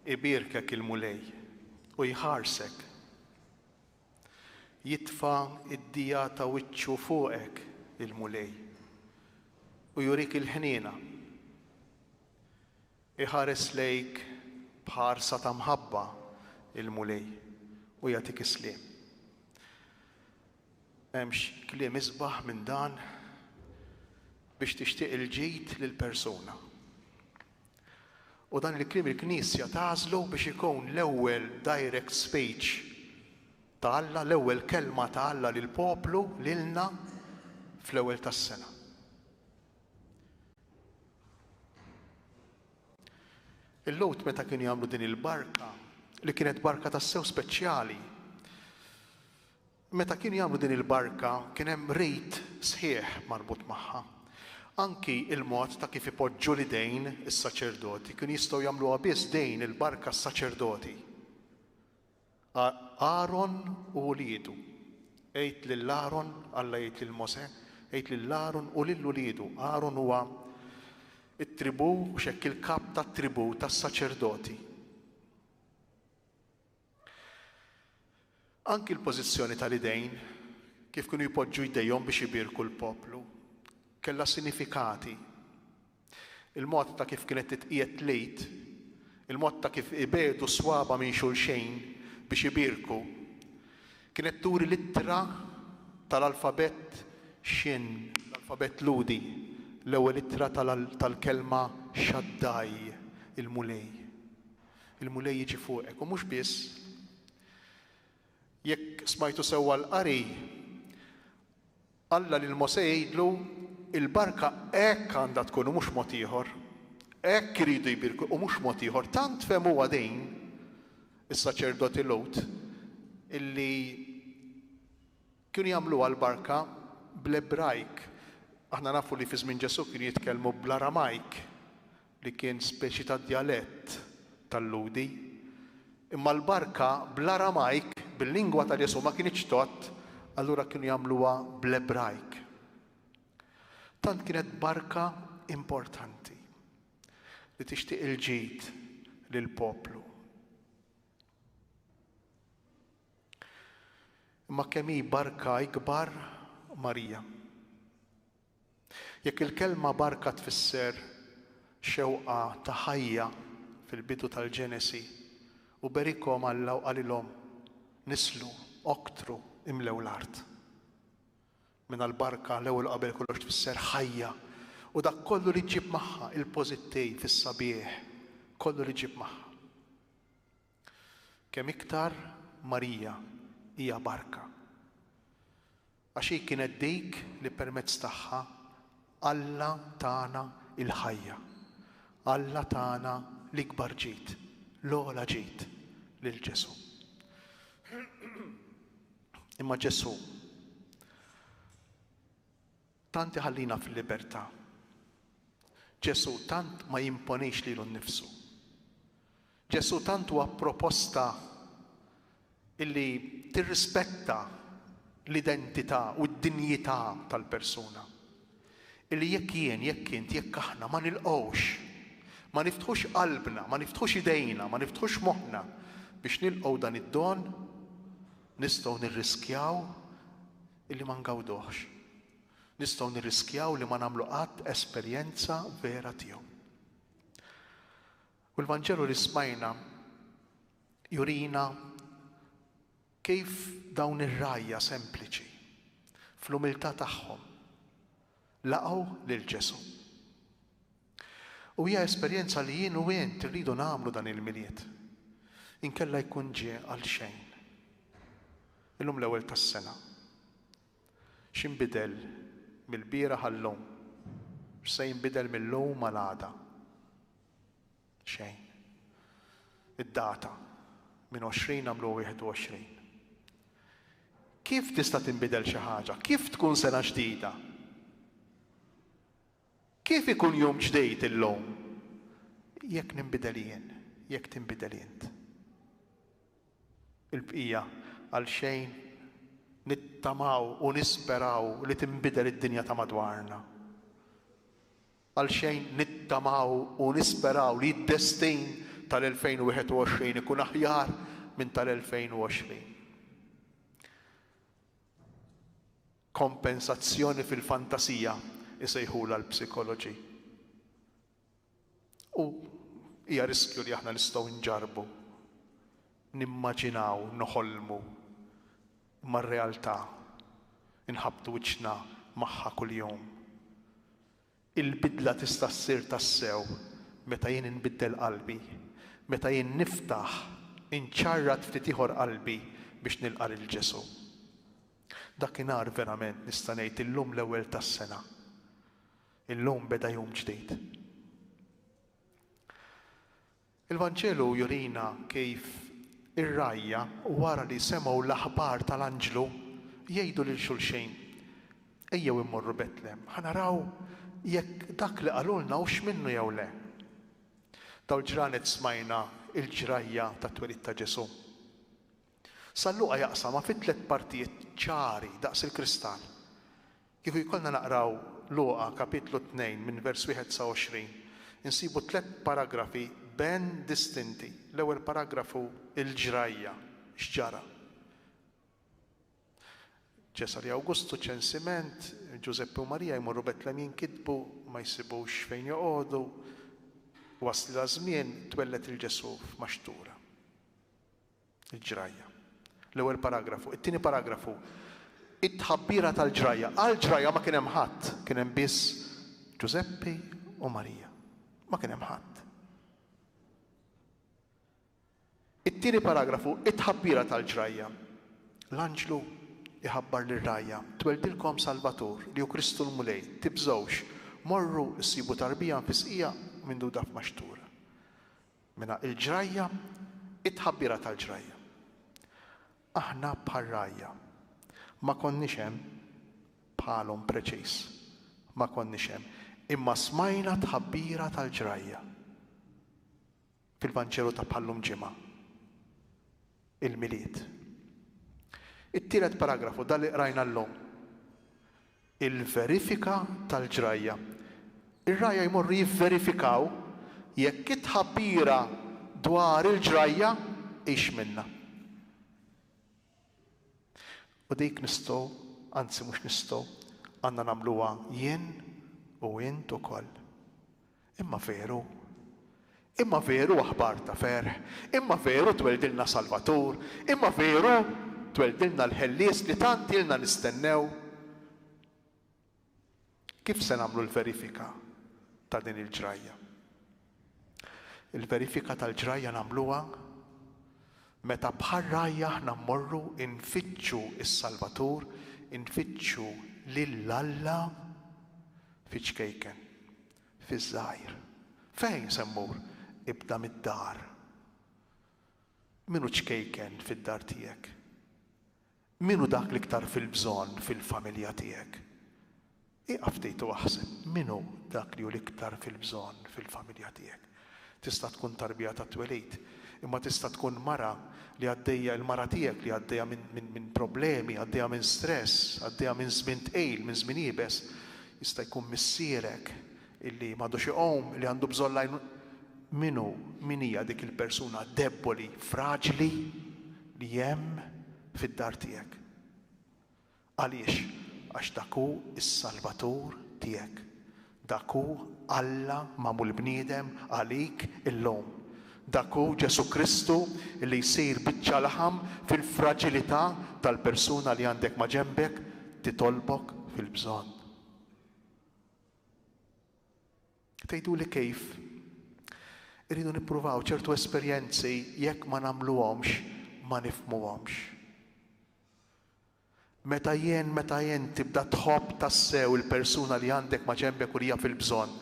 ibirkek il-Mulej u jħarsek. Jitfa id-dija ta' wiċċu fuqek il-Mulej u jurik il-ħniena. Iħares lejk b'ħarsa ta' mħabba l-Mulej u jagħtik is-sliem. Hemmx kliem isbaħ minn dan biex tixtieq il-ġid lil persuna. U dan il-kliem il-Knisja tagħżlu biex ikun l-ewwel direct speech ta' Alla, l-ewwel kelma ta' Alla lill-poplu, lilna, fl-ewwel tas-sena. Il-Lhud meta kienu jagħmlu din il-barka, li kienet barka tassew speċjali, meta kienu jagħmlu din il-barka kien hemm rit sħiħ marbut magħha. Anki il-mod ta' kif ipoġġu l-idejn is-saċerdoti kienu jistgħu jagħmluha biss din il-barka s-saċerdoti. Aaron u uliedu. Għid lil Aaron, Alla jgħid lil Mosè, għid lil Aaron u lil uliedu, Aaron huwa t-tribù, mhux hekk, il-kap tat-tribù tas-saċerdoti. Anki l-pożizzjoni tal-idejn, kif kienu jpoġġu jdejhom biex ibierku l-poplu, kellha sinifikati. Il-mod ta' kif kienet titqiegħed l-Għid, il-mod ta' kif ibiegħdu s-swaba' minn xulxejn biex ibierku, kienet turi l-ittra tal-alfabett Shin, l-alfabett Lhudi, l-ewwel ittra tal-kelma Shaddai, il-Mulej. Il-Mulej jiġi fuqek, u mhux biss, Jekk smajtu sewwa l-qari, Alla lil Mosè jgħidlu, Il-barka hekk għandha tkun u mhux mod ieħor. Hekk iridu jbierku u mhux mod ieħor. Tant fehmuha din is-saċerdoti Lhud illi kienu jagħmluha l-barka bl-Ebrajk. Aħna nafu li fi żmien Ġesù kienu jitkellmu bl-Aramajk. li kien speċi ta' djalett tal-Lhudi, imma l-barka bl-Aramajk, bil-lingwa ta' Ġesù, ma kinitx tgħodd, allura kienu jagħmluha bl-Ebrajk. Tant kienet barka importanti li tixtieq il-ġid lill-poplu. Imma kemm hi barka ikbar Marija. Jekk il-kelma barka tfisser xewqa ta' ħajja fil-bidu tal-Ġenesi, u berikhom Alla u qalilhom, Nislu, oktru, imlew l-art. Mela l-barka l-ewwel u qabel kollox tfisser ħajja u dak kollu li ġġib magħha, il-pożittiv, is-sabiħ, kollu li ġġib magħha. Kemm iktar Marija hija barka, għax hi kienet dik li permezz tagħha Alla tana l-ħajja, Alla tana l-ikbar ġid, l-ogħla ġid, lil Ġesù. Imma Ġesù tant iħallina fil-libertà. Ġesù tant ma jimponix lilu nnifsu. Ġesù tant huwa proposta illi tirrispetta l-identità u d-dinjità tal-persuna, illi jekk jien, jekk int, jekk aħna ma nilqgħux, ma niftħux qalbna, ma niftħux idejna, ma niftħux moħħna biex nilqgħu dan id-don, nistgħu nirriskjaw illi ma ngawduhx. Nistgħu nirriskjaw li ma nagħmlu qatt esperjenza vera tiegħu. U l-Vanġelu li smajna jurina kif dawn ir-rgħajja sempliċi, fl-umiltà tagħhom, laqgħu lil Ġesù. U hija esperjenza li jien u int irridu nagħmlu dan il-Milied, inkella jkun ġie għal xejn. Illum l-ewwel tas-sena. X'inbidel mill-bieraħ għal-lum? X'se jinbidel mil-lum għal għada? Xejn. Id-data minn 20 għamlu 21. Kif tista' tinbidel xi ħaġa? Kif tkun sena ġdida? Kif ikun jum ġdid illum? Jekk ninbidel jien, jekk tinbidel int. Il-bqija għal xejn nittamaw u nisperaw li tinbidel id-dinja ta' madwarna. Għalxejn nittamaw u nisperaw li d-destin tal-2021 ikun aħjar minn tal-2020. Kompensazzjoni fil-fantasija jsejħulha l-psikoloġi. U hija riskju li aħna nistgħu nġarrbu nimmaġinaw, noħolmu, imma r-realtà inħabbtu wiċċna magħha kuljum. Il-bidla tista' ssir tassew meta jien inbiddel qalbi, meta jien niftaħ, inċarrat ftit ieħor qalbi biex nilqa' lil Ġesù. Dakinhar verament nista' ngħid illum l-ewwel tas-sena. Illum beda jum ġdid. Il-Vanġelu jurina kif ir-rgħajja wara li semgħu l-aħbar tal-anġlu jgħidu lil xulxejn, Ejjew immorru Betlehem, ħa naraw jekk dak li qalulna hux minnu jew le. Dawn il-ġranet smajna l-ġrajja tat-twelid ta' Ġesù. San Luqa jaqsamha fi tliet partijiet ċari daqs il-kristall. Kieku jkollna naqraw Luqa kapitlu tnejn minn vers wieħed sa għoxrin, insibu tliet paragrafi ben distinti. L-ewwel paragrafu il-ġrajja, x'ġara. Ċesari Awgustu, ċensiment, Ġużeppi u Marija jmorru Betlem jinkitbu, ma jsibux fejn joqogħdu, waslilha żmien, twelled il-Ġesù f'maxtura. Il-ġrajja. L-ewwel paragrafu. It-tieni paragrafu. It-tħabbira tal-ġrajja. Għall-ġrajja ma kien hemm ħadd, kien hemm biss Ġużeppi u Marija. Ma kien hemm ħadd. It-tieni paragrafu, it-tħabbira tal-ġrajja. L-anġlu iħabbar lir rajja tweldilkom Salvatur li hu Kristu l-Mulej, tibżgħux, morru ssibu tarbija mfisqija minduda f'maxtura. Mela il-ġrajja, it-tħabbira tal-ġrajja. Aħna bħal rgħajja. Ma konniex hemm bħalhom preċiż. Ma konniex hemm. Imma smajna t-tħabbira tal-ġrajja fil-Vanġelu ta' bħal-lum Ġimgħa. il-Milied. It-tielet paragrafu, dan li qrajna llum, il-verifika tal-ġrajja. Ir-rgħajja jmorru jivverifikaw jekk it-tħabbira dwar il-ġrajja hix minnha. U dik nistgħu, anzi mhux nistgħu, għandna nagħmluha jien u int ukoll. Imma veru. Imma veru aħbar ta' ferħ. Imma veru tweldilna Salvatur. Imma veru tweldilna l-Ħellies li tant ilna nistennew. Kif se nagħmlu l-verifika ta' din il-ġrajja? Il-verifika tal-ġrajja nagħmluha meta bħar-rgħajja aħna mmorru nfittxu s-Salvatur, infittxu lil Alla fiċ-ċkejken. Fiż-żgħir. Fejn se mmur? Ibda mid-dar. Min hu ċkejken fid-dar tiegħek? Min hu dak l-iktar fil-bżonn fil-familja tiegħek? Ieqaf ftit u aħseb min hu dak li hu l-iktar fil-bżonn fil-familja tiegħek. Tista' tkun tarbija tat-twelid, imma tista' tkun mara li għaddejja, il-mara tiegħek li għaddejja minn problemi, għaddejja minn stress, għaddejja minn żmien tqil, minn żmien iebes. Jista' jkun missierek illi m'għadux iqum, li għandu bżonn l-għajnuna. Min hu, min hija dik il-persuna debboli, fraġli li hemm fid-dar tiegħek? Għaliex? Għax dak hu s-Salvatur tiegħek. Dak hu Alla magħmul bniedem għalik illum. Dak hu Ġesù Kristu li jsir biċċa laħam fil-fraġilità tal-persuna li għandek maġenbek titolbok fil-bżonn. Tgħiduli kif? Irridu nippruvaw ċertu esperjenzi jekk ma nagħmluhomx ma nifmuhomx. Meta jien, meta int tibda tħobb tassew il-persuna li għandek maġenbek u li hija fil-bżonn,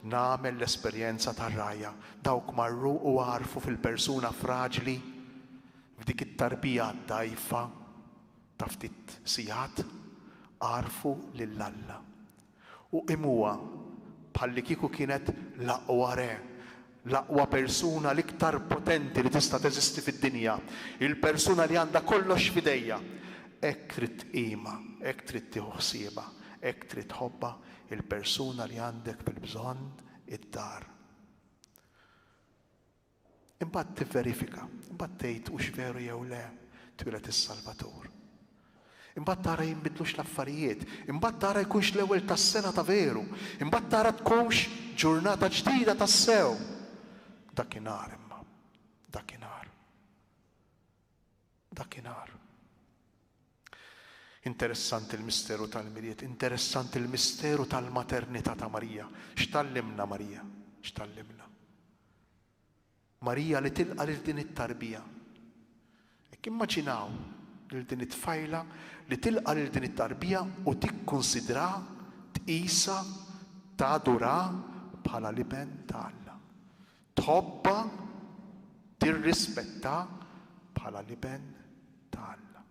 nagħmel l-esperjenza tar-rgħajja. Dawk marru u għarfu fil-persuna fraġli, f'dik it-tarbija dgħajfa ta' ftit sigħat, għarfu lil Alla. U qimuha bħallikieku kienet l-aqwa re, l-aqwa persuna, l-iktar potenti li tista' teżisti fid-dinja, il-persuna li għandha kollox f'idejha. Hekk trid tqimha, hekk trid tieħu ħsiebha, hekk trid tħobbha, il-persuna li għandek fil-bżonn id-dar. Imbagħad tivverifika, imbagħad tgħid hux veru jew le, twieled is-Salvatur. Imbagħad tara jinbidlux l-affarijiet, imbagħad tara jkunx l-ewwel tas-sena ta' veru, imbagħad tara tkunx ġurnata ġdida tassew. Dakinhar imma, dakinhar. dakinhar. Interessanti l-misteru tal-Milied, interessanti l-misteru tal-maternità ta' Marija. X'tgħallimna Marija? X'tgħallimna? Marija li tilqa' lil din it-tarbija. Hekk immaġinaw lil din it-tfajla li tilqa' lil din it-tarbija u tikkunsidra, tqisha, tadura bħala l-Iben ta' Alla. Tħobbha, tirrispetta bħala l-iben ta' Alla.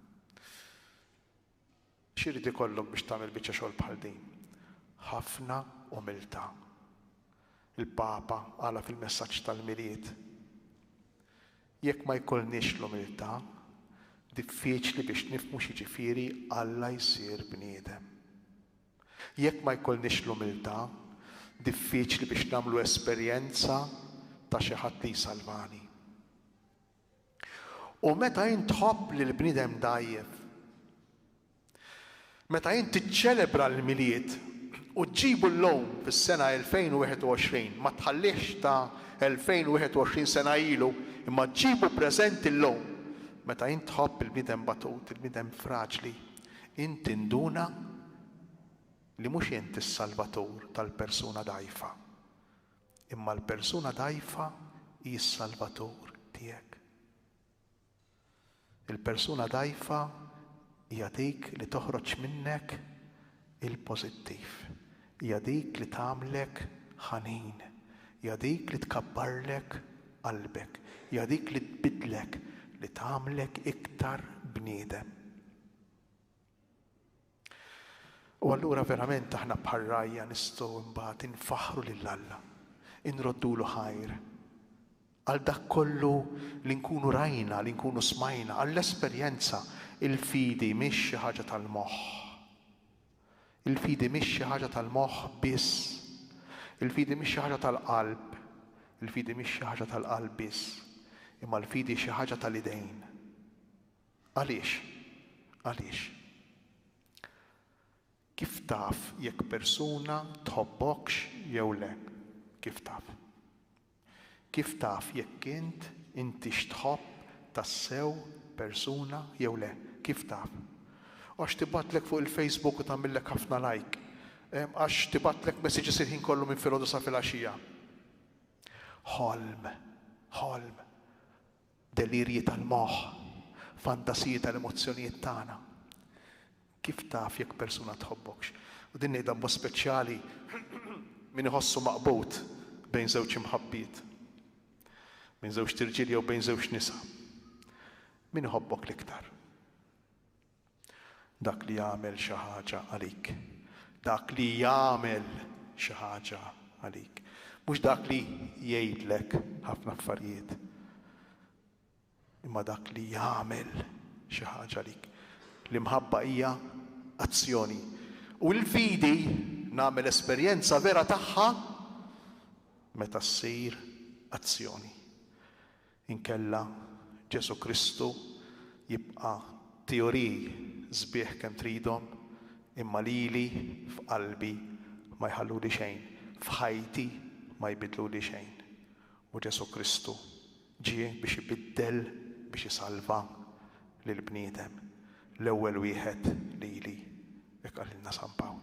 X'irid ikollok biex tagħmel biċċa xogħol bħal din? Ħafna umiltà. Il-Papa qala fil-messaġġ tal-Milied, Jekk ma jkollniex l-umiltà, diffiċli biex nifhmu x'jiġifieri Alla jsir bniedem. Jekk ma jkollniex l-umiltà, diffiċli biex nagħmlu esperjenza ta' xi ħadd li jsalvani. U meta int tħobb lil bniedem dgħajjef, meta int tiċċelebra l-Milied u ġġibu llum fis-sena 2021, ma tħallihx ta' 2021 sena ilu, imma ġġibu preżenti llum, meta int tħobb il-bniedem batut, il-bniedem fraġli, Int induna li mhux int is-salvatur tal-persuna dgħajfa, imma l-persuna dgħajfa hi s-salvatur tiegħek. Il-persuna dgħajfa hija dik li toħroġ minnek il-pożittiv, Hija dik li tagħmlek ħanin. Hija dik li tkabbarlek qalbek. Hija dik li tbiddlek, li tagħmlek iktar bniedem. U allura verament aħna bħar-rgħajja nistgħu imbagħad infaħħru lil Alla, inroddulu ħajr għal dak kollu li nkunu rajna, li nkunu smajna, għall-esperjenza il-fidi mhix xi ħaġa tal-moħħ. Il-fidi mhix xi ħaġa tal-moħħ biss. Il-fidi mhix xi ħaġa tal-qalb. Il-fidi mhix xi ħaġa tal-qalb biss. Imma l-fidi hi xi ħaġa tal-idejn. Għaliex? Għaliex? Kif taf jekk persuna tħobbokx jew le? Kif taf? Kif taf jekk int intix tħobb tassew persuna jew le? Kif taf? Għax tibgħatlek fuq il-Facebook u tagħmillek ħafna like? Għax tibgħatlek messages il-ħin kollu minn filgħodu sa filgħaxija? Ħolm! Ħolm! Delirji tal-moħħ, fantasiji tal-emozzjonijiet tagħna. Kif taf jekk persuna tħobbokx? U din ngħidha b'mod speċjali min iħossu maqbud bejn żewġ imħabbiet, bejn żewġt irġiel jew bejn żewġt nisa. Min iħobbok l-iktar? Dak li jagħmel xi ħaġa għalik. Dak li jagħmel xi ħaġa għalik. Mhux dak li jgħidlek ħafna affarijiet. Imma dak li jagħmel xi ħaġa għalik. L-imħabba hija azzjoni. U l-fidi nagħmel esperjenza vera tagħha meta ssir azzjoni. Inkella, Ġesù Kristu jibqa' teoriji sbieħ kemm tridhom, imma lili f'qalbi ma jħalluli xejn, f'ħajti ma jbiddluli xejn. U Ġesù Kristu ġie biex ibiddel, biex isalva lill-bniedem, l-ewwel wieħed lili, hekk qalilna San Pawl.